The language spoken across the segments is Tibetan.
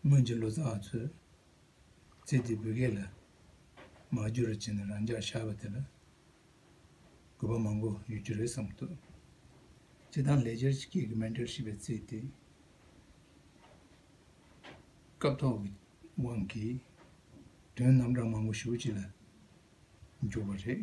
སྔོན་གྱི་ལོ་ཙཱ་བ་ཚོས་ཚེ་འདིའི་བོད་སྐད་ལ་མ་བསྒྱུར་བར་བྱས་ནས་རང་འཇགས་ཤར་བ་དེ་ལ་གུས་པ་མང་པོ་ཡོད་རྒྱུ་རེད་བསམ་འདུག་སྤྱི་བཏང་ལེགས་སྦྱར་གྱི་སྐད་ཀྱི་མན་འབྲེལ་ཞེས་པའི་ཚིག་དེ་སྐབས་ཐོག་གི་དབང་གིས་དོན་རྣམ་གྲངས་མང་པོ་ཞུ་གཅིག་ལ་འཇུག་པ་རེད།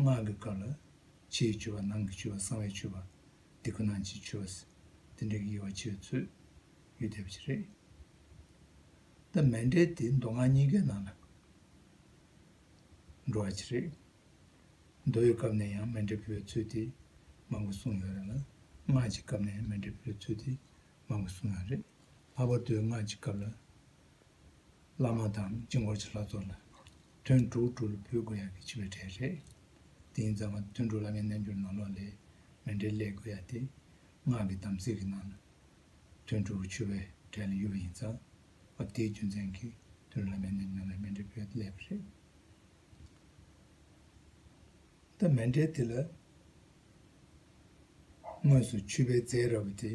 སྔགས་ཀྱི་བཀའ་ལ། ཕྱིའི་མཆོད་པ་ནང་གི་མཆོད་པ་གསང་བའི་མཆོད་པ། འདི་ཀུན་སྣང་བྱེད་མཆོད་པ། འདི་འདྲའི་དབྱེ་བ་ཕྱེ་བའི་ཚུལ། ཡུལ་འདས་པ་ཅི་རེད། ད་མན་འདྲེ་དེ་མདོ་སྔགས་གཉིས་ཀའི་ནང་ལ། འགྲོ་བ་ཅི་རེད། མདོའི་སྐབས་ནས་ཡང་མན་འདྲེ་འབུལ་བའི་ཚུལ་དེ། མང་པོ་གསུངས་ཡོད་རེད་ལ། སྔགས་ཀྱི་སྐབས་ནས་མན་འདྲེ་འབུལ་བའི་ཚུལ་དེ། མང་པོ་གསུངས་ཡོད་རེད། ལྷག་པར་དུ་སྔགས་ཀྱི་སྐབས་ལ། བླ་མ་དང་སྤྱི་འགོར་གྱི་ལྷ་ཚོགས་ལ་དོན་དྲུག་དྲུག་ལ་འབུལ་དགོས་ཡ་གི་ཆི་བའི་གྲས་རེད། དེ་ཡིན་ཙང་བ་དོན་དྲུག་ལ་ངའི་རྣལ་འབྱོར་ནང་ལོགས་ལས་མི་འདྲའི་ལས་དགོས་ཡ་སྟེ། སྔགས་ཀྱི་དམ་ཚིག་གི་ནང་ལ་དོན་དྲུག་གི་ཆུ་བའི་གྲས་ལ་ཡུལ་བ་ཡིན་ཙང་བ་དེའི་རྒྱུ་མཚན་གྱིས་དོན་དྲུག་ལ་ངའི་རྣལ་འབྱོར་ནང་ལས་མི་འདྲའི་བོད་ལས་པ་རེད། ད་མི་འདྲའི་དེ་ལ་དངོས་སུ་ཆུ་བའི་རྫས་ར་བ་དེ།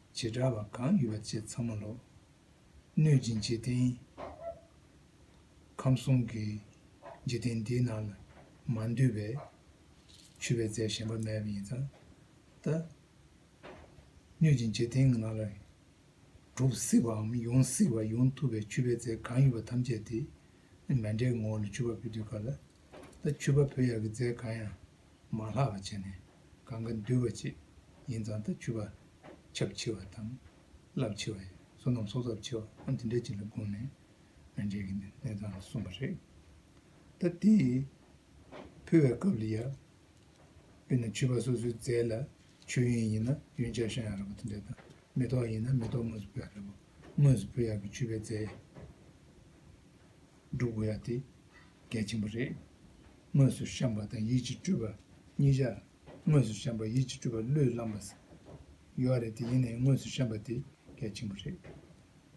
བྱེ་བྲག་ལ་གང་ཡོད་པ་བཅས་ཚང་མ་ལོག། གནོད་སྦྱིན་འཇིག་རྟེན་ཁམས་གསུམ་གྱི་འཇིག་རྟེན་འདིའི་ནང་ལ་མ་འདུས་པས། ཆུད་པའི་རྫས་གཞན་པ་མེད་པ་ཡིན་ཙང་ལྟ། གནོད་སྦྱིན་འཇིག་རྟེན་གྱི་ནང་ལ་གྲུབ་སྲིད་པའམ་ཡོང་སྲིད་པ་ཡོང་ཐུབ་པའི་ཆུད་པའི་རྫས་གང་ཡོད་པ་ཐམས་ཅད་དེ། མེ་འདྲའི་ངོ་བོ་ལ་ཆུད་པ་ཕུལ་དུས་ག་ལ་ལྟ་ཆུད་པ་ཕུལ་ཡག་གི་རྫས་གང་ཡང་མ་ལྷག་པར་བྱས་ནས་གང་གིས་འདུལ་བ་བཅས་ཡིན་ཙང་ད་ཆུ་བ་ཁྱབ་ཆེ་བ་དང་རླབས་ཆེ་བ་ཡིན་བསོད་ནམས་གསོག་ཚབས་ཆེ་བའང་དེ་འདྲ་ཅིག་ལ་བསྒོམས་ནས་མི་འགྲིག་གི་གནས་སྟངས་གསུངས་པ་རེད། ད་དེ་ཕུལ་བའི་སྐབས་ལ་ཡར་དཔེར་ན་ཆུ་བ་སོ་སོའི་རྫས་ལ་ཆུ་ཡོན་ཡིན་ན་ཡོན་ཆ་ཤ་ཡང་རག་པ་དེ་འདྲ་དང་མེ་ཏོག་ཡིན་ན་མེ་ཏོག་དངོས་སུ་ཕུལ་ཡག་རེད་བོ། དངོས་སུ་ཕུལ་ཡག་གི་ཆུ་བའི་རྫས། འབྲུག་དགོས་ཡ་དེ་གལ་ཆེན་པོ་རེད། དངོས་སུ་བཤམས་པ་དང་ཡིད་ཀྱི་སྤྲུལ་པ་གཉིས་ཆར་དངོས་སུ་བཤམས་པ་ཡིད་ཀྱི་སྤྲུལ་པ་བློས་བསླངས་པ་ཟེར། ཡོད་རེད་དེ་ཡིན་ནའི་དངོས་སུ་བཤམས་པ་དེ་གལ་ཆེན་པོ་རེད།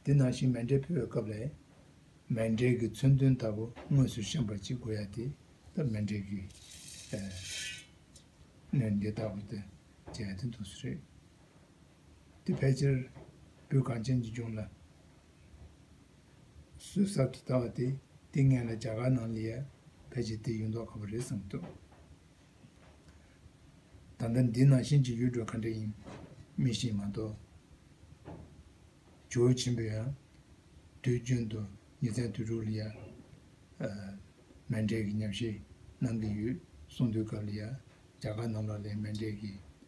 དེ་ནང་བཞིན་མེ་འབྲས་ཕུལ་བའི་སྐབས་ལས། མེ་འབྲས་ཀྱི་མཚོན་དོན་ལྟ་བུ་དངོས་སུ་བཤམས་པ་གཅིག་དགོས་ཡ་དེ་སྟབས་མེ་འབྲས་ཀྱི། སྣོད་འདི་ལྟ་བུ་དེ་བྱ་ཡ་དེ་འདུག་སྲིད་རེད། དེ་ཕལ་ཆེར་སྤྲུལ་གངས་ཅན་གྱི་ལྗོངས་ལ། གསོས་གསར་དུ་བཏབ་པ་དེ་དེ་ངེད་ལ་རྒྱ་གར་ནང་ལས་ཕལ་ཆེར་དེ་ཡོད་མདོག་ག་བུ་རེད་བསམ་ཐུབ། ད་ལྟ་འདི་ནང་བཞིན་གྱི་ཡུལ་གྲུ་ག་འདྲ་ཡིན་རྨིས་ཤིང་མ་གཏོགས། ཇོ་བོ་ཆེན་པོས་ཡང་དུས་རྒྱུན་དུ་ཉིན་མཚན་དུས་དྲུག་ལ་ཡང། མན་འབྲེལ་གྱི་ཉམས་བཞེས་གནང་གི་ཡོད་གསུངས་དུས་སྐབས་ལ་ཡང་རྒྱ་གར་ནང་ལོག་ལས་མན་འབྲེལ་གྱི་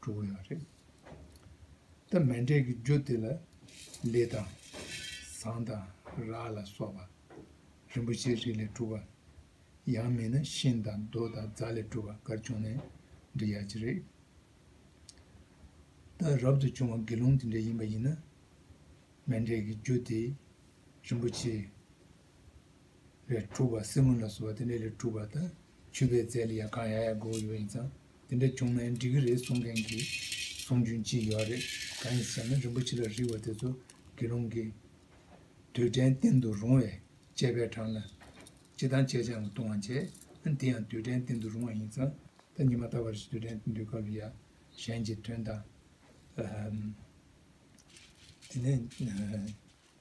གྲུ་གུ་ཡང་རེད། སྟབས་མི་འབྲལ་གྱི་རྒྱུ་དེ་ལ་ལི་དང། ཟངས་དང་རག་ལ་སོགས་པ། རིན་པོ་ཆེའི་རིགས་ལས་གྲུབ་པ། ཡང་མིན་ན་ཤིང་དང་རྡོ་དང་རྫ་ལས་གྲུབ་པ་འགར་བྱུང་ནས་འབྲི་ཡག་གི་རེད། སྟབས་རབ་ཏུ་བྱུང་བ་དགེ་སློང་དེ་འདྲ་ཡིན་པ་ཡིན་ན། མི་འབྲལ་གྱི་རྒྱུ་དེ་རིན་པོ་ཆེའི་རིགས་ལས་གྲུབ་པ་སྲིན་མོ་ལ་སོགས་པ་དེ་འདྲ་ལས་གྲུབ་པ་དང་ཆུ་བེད་རྫས་ལས་ཡང་གང་ཡག་ཡག་དགོས་ཡོད་ཡིན་ཙང། དེ་འདྲ་བྱུང་ན་འགྲིག་གི་རེད་གསུང་མཁན་གྱི་གསུང་རྒྱུན་གཅིག་ཡོད་རེད་གང་ཡིན་ཟེར་ན་རིན་པོ་ཆེ་ལ་རིགས་བ་དེ་ཚོ་དགེ་སློང་གི་དུས་དྲན་བསྟན་དུ་རུང་བས་དཔྱད་པའི་གྲངས་ལ་སྤྱི་དང་དཔྱད་བྱའང་ལྟུང་བ་འབྱེད་ཨ་དེ་ཡང་དུས་དྲན་བསྟན་དུ་རུང་བ་ཡིན་ཙང་ད་ཉི་མ་ལྟ་བར་དུས་དྲན་བསྟན་དུས་སྐབས་ཡག་གཞན་གྱི་དོན་དང། དེ་ནས།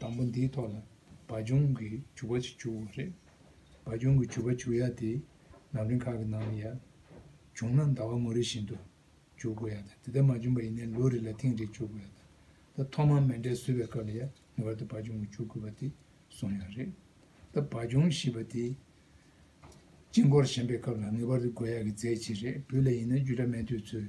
དང་པོ་འདིའི་ཐོག་ལ་བ་ལྗོངས་ཀྱི་བྱུག་པ་ཞིག་བྱུག་དགོས་རེད། བ་ལྗོངས་ཀྱི་བྱུག་པ་བྱུག་ཡ་དེ་ལམ་རིམ་ཁག་གི་ནང་ལ་ཡར་བྱུང་ན་ཟླ་བ་མོ་རེ་བཞིན་དུ་བྱུག་དགོས་ཡ་དང་དེ་ལྟར་མ་བྱུང་བ་ཡིན་ན་ལོ་རེ་ལ་ཐེངས་རེ་བྱུག་དགོས་ཡ་དང་ད་ཐོག་མར་མེ་འབྲས་བཟོས་པའི་སྐབས་ལ་ཡར་ངེས་པར་དུ་བ་ལྗོངས་ཀྱི་བྱུག་དགོས་པ་དེ་བཟུང་ཡ་རེད། ད་བ་ལྗོངས་ཞེས་པ་དེ་དཀྱིལ་འཁོར་བཞེངས་པའི་སྐབས་ལ་ངེས་པར་དུ་དགོས་ཡ་གི་རྫས་གཅིག་རེད་བུ་ལ་ཡིན་ན་རྒྱུད་གྲྭ་སྨན་ཐོས་ཚུལ།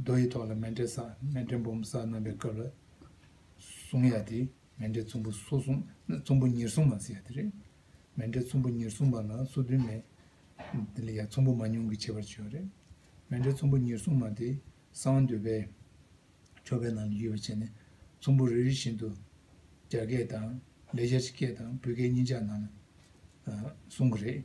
རྡོ་ཡི་ཐོག་ལ་མེ་འདྲེན་ས་མེ་འདྲེན་བུམ་ས་རྣམ་པའི་སྐབས་ལ་གཟུང་ཡ་དེ་མེ་འདྲེན་ཚོམ་བུ་སོ་གཟུང་ཚོམ་བུ་ཉེར་གཟུང་མ་ཟེར་ཡ་དེ་རེད། མེ་འདྲེན་ཚོམ་བུ་ཉེར་གཟུང་མ་ན་སོ་བདུན་མེ་དེ་ལ་ཡ་ཚོམ་བུ་མ་ཉུང་གི་བྱེད་པར་བྱེད་ཡ་རེད། མེ་འདྲེན་ཚོམ་བུ་ཉེར་གཟུང་མ་དེ་གསང་འདུས་པའི་ཆོ་གའི་ནང་ལ་ཡོད་པར་བྱས་ནས་ཚོམ་བུ་རེ་རེ་བཞིན་དུ་རྒྱ་སྐད་དང་ལས་རྒྱ་ཆེ་སྐད་དང་བུ་སྐད་གཉིས་ཆ་ནང་ལ་གཟུང་གི་རེད།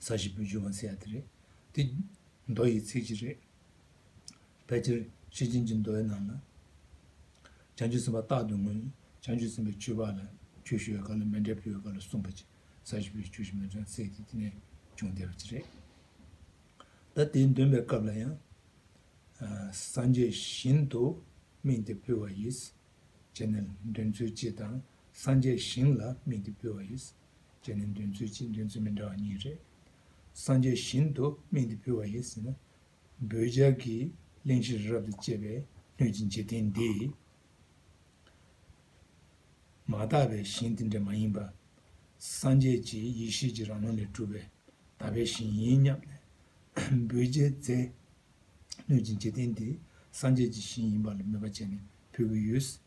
ས་བཞི་པོའི་སྦྱོར་བ་མཛད་ཡ་དེ་རེད། འདི། མདོ་ཡི་ཚིག་གཅིག་རེད། ཕལ་ཆེར་ཤེར་ཕྱིན་གྱི་མདོའི་ནང་ལ། བྱང་ཆུབ་སེམས་དཔའ་རྟག་ཏུ་ངོས་ནས་བྱང་ཆུབ་སེམས་དཔའི་ཆོས་འཕགས་ལ་ཆོས་ཞུ་བའི་སྐབས་ལ་མེ་འབྲས་ཕུལ་བའི་སྐབས་ལ་གསུངས་པ་ཅིག་ས་བཞི་པོའི་ཆོས་བཞི་མེ་ལྕང་བསྲེགས་ཏེ་དེ་ནས་བྱུང་བསྡད་པ་ཅིག་རེད། ད་དེའི་འདོན་པའི་སྐབས་ལ་ཡང། སངས་རྒྱས་ཞིང་དུ་སྨིན་ཏེ་ཕུལ་བ་ཡིས། ཅེས་ནས་འདོན་ཚུལ་སྤྱི་དང་སངས་རྒྱས་ཞིང་ལ་སྨིན་ཏེ་ཕུལ་བ་ཡིས། དེ་ནི་འདོན་ཚུལ་གཅིག་འདོན་ཚུལ་མི་འདྲ་བ་གཉིས་རེད། སངས་རྒྱས་བཞིན་དུ་སྨིན་དུ་ཕུལ་བ་ཡིན་ཟེར་ན། འབོད་སྦྱར་གྱི་གླེང་གཞི་རི་རབ་ཏུ་བཅད་པའི་སྣོད་ཀྱི་འཇིག་རྟེན་འདི། མ་དག་པའི་ཞིང་དེ་འདྲ་མ་ཡིན་པར། སངས་རྒྱས་ཀྱི་ཡེ་ཤེས་ཀྱི་རང་ལུགས་ལས་གྲུབ་པའི་དག་པའི་ཞིང་ཡིན་སྙམ་ནས། འབོད་སྦྱར་མཛད། སྣོད་ཀྱི་འཇིག་རྟེན་འདི་སངས་རྒྱས་ཀྱི་ཞིང་ཡིན་པ་ལ་མོས་པ་བྱས་ནས་ཕུལ་གྱི་ཡོད།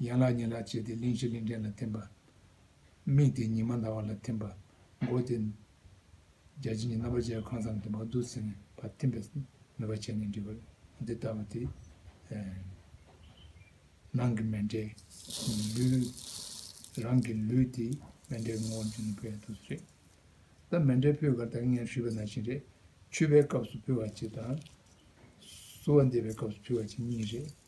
ཡན་ལག་ཉིད་ལ་བྱས་ཏེ་གླིང་བཞི་གླིང་ཕྲན་ལ་ཐིམ་པ། མིག་དེ་ཉི་མ་ཟླ་བ་ལ་ཐིམ་པ། མགོ་དེ། རྒྱ་ཆེན་གྱི་རྣམ་པར་བཅད་ཁང་བཟང་དུ་བ་བདུད་བསིལ་ནས་བ་ཐིམ་པས་ནུས་པ་ཆེ་ནས་འདྲིལ་བར་འདི་ལྟ་བུ་སྟེ། ནང་གི་མེ་འདྲའི་ལུས། རང་གི་ལུས་དེ་མེ་འདྲའི་ངོ་བོར་གྱུར་ནས་བོད་དུ་སོད། ད་མེ་འདྲའི་ཕུད་གར་དག་ངས་ཞུས་པ་ནང་བཞིན་རེད། ཆུད་པའི་སྐབས་སུ་ཕུལ་བ་གཅིག་དང། བསུ་བ་འདེབས་པའི་སྐབས་སུ་ཕུལ་བ་གཅིག་གཉིས་རེད།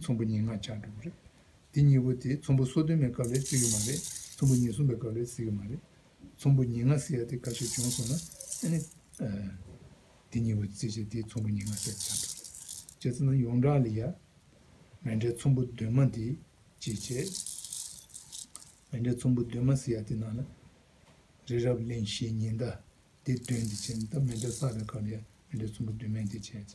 ཚོམ་བུ་གཉིས་ལྔ་ཆ་འགྲོ་གི་རེད། དེ་གཉིས་པོ་དེ་ཚོམ་བུ་སོ་བདུན་མའི་སྐབས་ལས་བརྩི་གི་མ་རེད། ཚོམ་བུ་ཉེར་གསུམ་པའི་སྐབས་ལས་བརྩི་གི་མ་རེད། ཚོམ་བུ་ཉེར་ལྔ་བརྩི་ཡ་དེ་ག་ཞིག་བྱུང་སོང་ན། དེ་གཉིས་པོ་བརྩི་བྱས་དེ་ཚོམ་བུ་ཉེར་ལྔ་བརྩི་བྱ་འགྲོ་གི་རེད། བྱས་ཚེ་ན་ཡོངས་གྲགས་ལ་ཡ། མེ་འབྲས་ཚོམ་བུ་བདུན་མ་འདི་ཅི་བྱས། མེ་འབྲས་ཚོམ་བུ་བདུན་མ་བརྩི་ཡ་དེ་ནང་ལ། རི་རབ་གླིང་བཞི་ཉི་ཟླ་འདི་བདུན་འདི་བྱས་ན་ད་མེ་འབྲས་བསགས་པའི་སྐབས་ལ་ཡ་མེ་འབྲས་ཚོམ་བུ་བདུན་མའི་འདི་བྱས།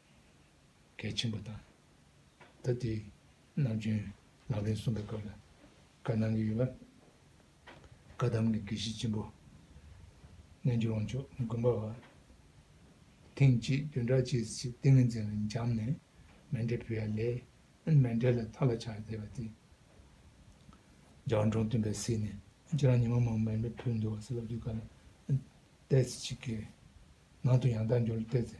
གལ་ཆེན་པོ་དང། ད་ལྟའི་ནམ་རྒྱུན་ལག་ལེན་བཟུང་པའི་སྐབས་ལ་བཀའ་གནང་གི་ཡོད། བཀའ་གདམས་ཀྱི་དགེ་བཤེས་ཆེན་པོ་རྣལ་འབྱོར་དབང་ཕྱུག་མགོན་པ་བ། ཐེངས་གཅིག་བདུན་ཕྲག་གཅིག་ཚེས་ཏིང་ངེ་འཛིན་ལ་འབྱམས་ནས་མན་འདྲེ་བུ་ཡ་ལས་མན་འདྲེ་ལ་མཐའ་ལ་ཆགས་བསྡད་པ་དེ། རྒྱ་བ་འབྲོང་སྟོན་པས་བསད་ནས་ཁྱེད་རང་ཉི་མ་མང་མན་འདྲེ་བུ་འདུལ་བ་སེ་ལབ་ཀྱི་བཀའ་ལ་གཏད་ཚེ་ཅི་དགེ། ནང་དུ་ཡང་དག་འབྱོར་ལ་གཏད་ཚེ་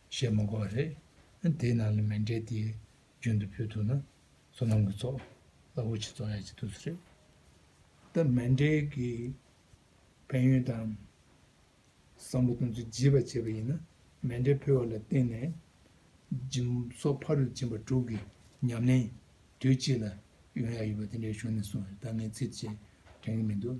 བཤད་མ་དགོས་པ་རེད། དེའི་ནང་ལ་མེ་འབྲས་དེ་རྒྱུན་དུ་ཕུལ་ཐུབ་ན་སོ་ནམ་གྱི་ཚོགས་རླབས་པོ་ཆེ་ཚོགས་ཡག་ཅིག་ཐུབ་ས་རེད། ད་མེ་འབྲས་ཀྱི་ཕན་ཡོན་དང་བསམ་བློ་གཏོང་ཚུལ་བརྗེས་པ་བྱས་པ་ཡིན་ན་མེ་འབྲས་ཕུལ་བ་ལ་བརྟེན་ནས་སྦྱིན་སོགས་ཕ་རུ་སྦྱིན་པ་དྲུག་གི་ཉམས་ལེན་དུས་གཅིག་ལ་ཡོང་ཡག་ཡོད་པ་དེ་འདྲའི་གཞུང་ནས་གསུངས་བར་ད་ངས་ཚིག་བཅད་དྲན་གྱི་མི་འདུག།